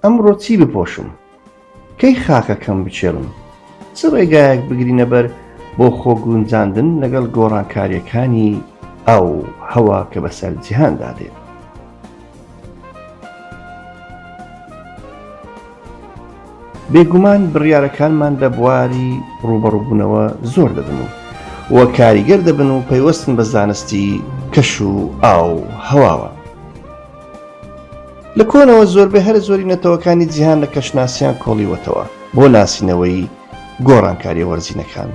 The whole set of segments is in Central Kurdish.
ئەمڕۆ چی بپۆشم کەی خاکەکەم بچێڵم چ ڕێگایەک بگرینە بەر بۆ خۆ گونجاندن لەگەڵ گۆڕانکاریەکانی ئاو هەوا کە بەسەر جیهاندا دێت بێگومان بڕیارەکانمان لە بواری ڕووبەڕووبوونەوە زۆر دەبن و و کاریگەر دەبن و پەیوەستن بە زانستی کەش و ئاو هەواوە لە کۆنەوە زۆربەی هەرە زۆری نەتەوەکانی جیهان لە کەشناسیان کۆڵیوەتەوە بۆ ناسینەوەی گۆڕانکاریە وەرزینەکان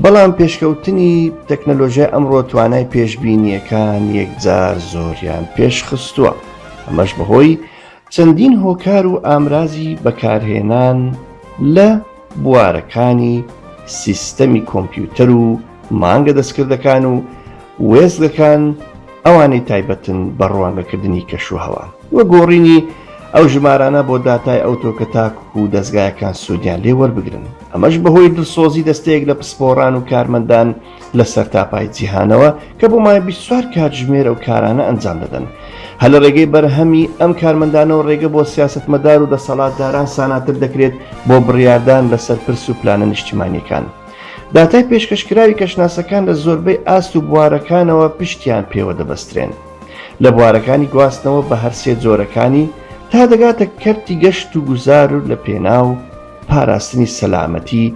بەڵام پێشکەوتنی تەکنەلۆژیای ئەمڕۆ توانای پێشببینیەکان یەکجار زۆریان پێشخستووە ئەمەش بەهۆی چەندین هۆکار و ئامرازی بەکارهێنان لە بوارەکانی سیستەمی کۆمپیوتەر و مانگە دەستکردەکان و وێستگەکان ئەوانەی تایبەتن بە ڕوانگەکردنی کەش و هەوا و گۆڕینی ئەو ژمارانە بۆ داتای ئەوتۆ کە تاکوک و دەستگایەکان سوودیان لێ وەربگرن ئەمەش بەهۆی دڵسۆزی دەستەیەک لە پسپۆڕان و کارمەندان لە سەرتاپای جیهانەوە کە بۆ مای بیسوار کاتژمێرە و کارانە ئەنجام دەدەن هە لە ڕێگەی بەرهەمی ئەم کارمەندانەوە ڕێگە بۆ سیاستمەدار و دەسەڵاتداران ساناتر دەکرێت بۆ بڕیاردان لەسەر پرس و پلانە نیشتیمانیەکان. داتای پێشکەشکراوی کەشناسەکان لە زۆربەی ئاست و بوارەکانەوە پشتیان پێوە دەبەسترێن. لە بوارەکانی گواستنەوە بە هەر سێ جۆرەکانی تا دەگاتە کەرتی گەشت و گوزار و لە پێناو پاراستنی سەلامەتی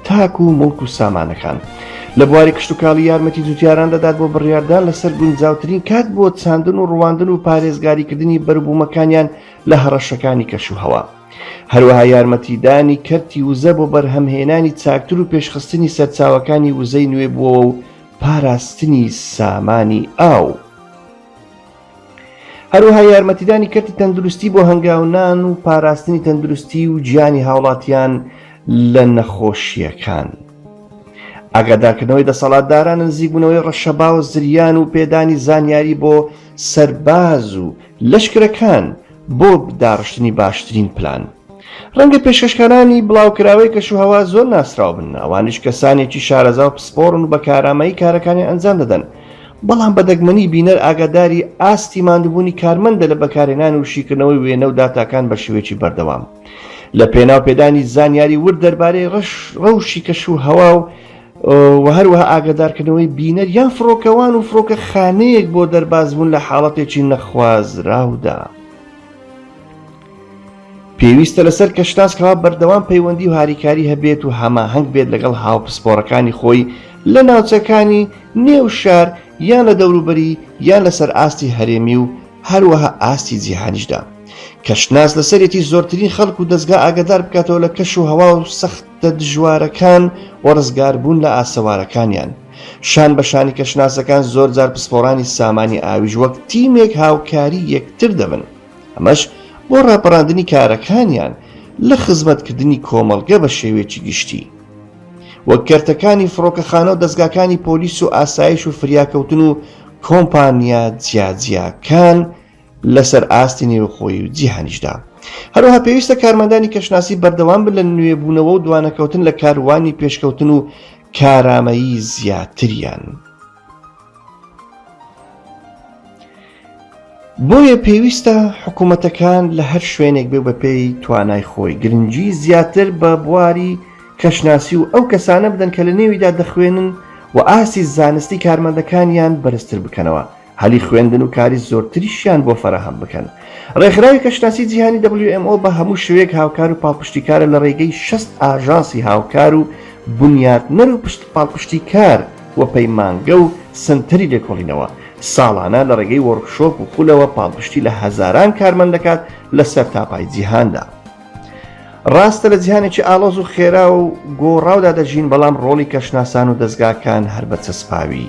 تاک و مڵک و سامانەکان لە بواری کشتتوکاڵی یارمەتی جوتیاران دەدات بۆ بڕیاردان لەسەر گونجاوترین کات بۆ چاندن و ڕواندن و پارێزگاریکردنی بەروبوومەکانیان لە هەڕەشەکانی کەش و هەوا هەروەها یارمەتیدانی کەرتی وزە بۆ بەرهەمهێنانی چاکتر و پێشخستنی سەرچاوەکانی وزەی نوێ بووەوە و پاراستنی سامانی ئاو، هەروەها یارمەتیدانی کەرتی تەندروستی بۆ هەنگاونان و پاراستنی تەندروستی و گیانی هاوڵاتیان لە نەخۆشییەکان. ئاگادارکردنەوەی دەسەڵاتداران نزیکبوونەوەی ڕەشەبا و زریان و پێدانی زانیاری بۆ سەرباز و لەشکرەکان بۆ داڕشتنی باشترین پلان ڕەنگە پێشکەشکارانی بڵاوکراوەی کەشوهەوا زۆر ناسراو بن، ئەوانیش کەسانێکی شارەزا و پسپۆڕن و بە کارامەیی کارەکانیان ئەنجام دەدەن، بەڵام بە دەگمەنی بینەر ئاگاداری ئاستی ماندووبوونی کارمەندە لە بەکارهێنان و شیکردنەوەی وێنە و داتاکان بە شێوەیەکی بەردەوام لەپێناو پێدانی زانیاری ورد دەربارەی ڕەوشی کەشوهەوا و و هەروەها ئاگەدارکردنەوەی بینەر یان فڕۆکەوان و فڕۆکە خانەیەک بۆ دەربازبوون لە حاڵەتێکی نەخوازراودا. پێویستە لەسەر کەشناس کەوا بەردەوام پەیوەندی و هاریکاری هەبێت و هەماهەنگ بێت لەگەڵ هاوپسپۆڕەکانی خۆی لە ناوچەکانی نێو شار یان لە دەوروبەری یان لەسەر ئاستی هەرێمی و هەروەها ئاستی جیهانیشدا کەشناس لەسەرێتی زۆرترین خەڵک و دەستگا ئاگدار بکاتەوە لە کەش و هەوا و سەخت تە دژوارەکان و ڕزگاربوون لە ئاسەوارەکانیان. شان بە شانی کەشناسەکان زۆرجار پسپۆڕانی سامانی ئاویش وەک تیمێک هاوکاری یەکتر دەبن، ئەمەش بۆ ڕاپەڕاندنی کارەکانیان لە خزمەتکردنی کۆمەڵگە بە شێوەیەکی گشتی. وەک کەرتەکانی فڕۆکەخانە و دەزگاکانی پۆلیس و ئاسایش و فریاکەوتن و کۆمپانیا جیاجیاکان لەسەر ئاستی نێوخۆیی و جیهانیشدا. هەروەها پێویستە کارمەندانی کەشناسی بەردەوام بن لە نوێبوونەوە و دوانەکەوتن لە کاروانی پێشکەوتن و کارامەیی زیاتریان. بۆیە پێویستە حکوومەتەکان لە هەر شوێنێک بێ بەپێی توانای خۆی گرنگی زیاتر بە بواری کەشناسی و ئەو کەسانە بدەن کە لە نێویدا دەخوێنن و ئاستی زانستی کارمەندەکانیان بەرزتر بکەنەوە هەلی خوێندن و کاری زۆرتریشیان بۆ فەراهەم بکەن. ڕێکخراوی کەشناسی جیهانی WMO بە هەموو شێوەیەک هاوکار و پاڵپشتیکارە لە ڕێگەی شەست ئاژانسی هاوکار و بنیاتنەر و پشت پاڵپشتیکار و پەیمانگە و سەنتەری لێکۆڵینەوە، ساڵانە لە ڕێگەی وۆرکشۆپ و خولەوە پاڵپشتی لە هەزاران کارمەند دەکات لە سەرتاپای جیهاندا. ڕاستە لە جیهانێکی ئاڵۆز و خێرا و گۆڕاودا دەژین، بەڵام ڕۆڵی کەشناسان و دەزگاکان هەر بە چەسپاوی.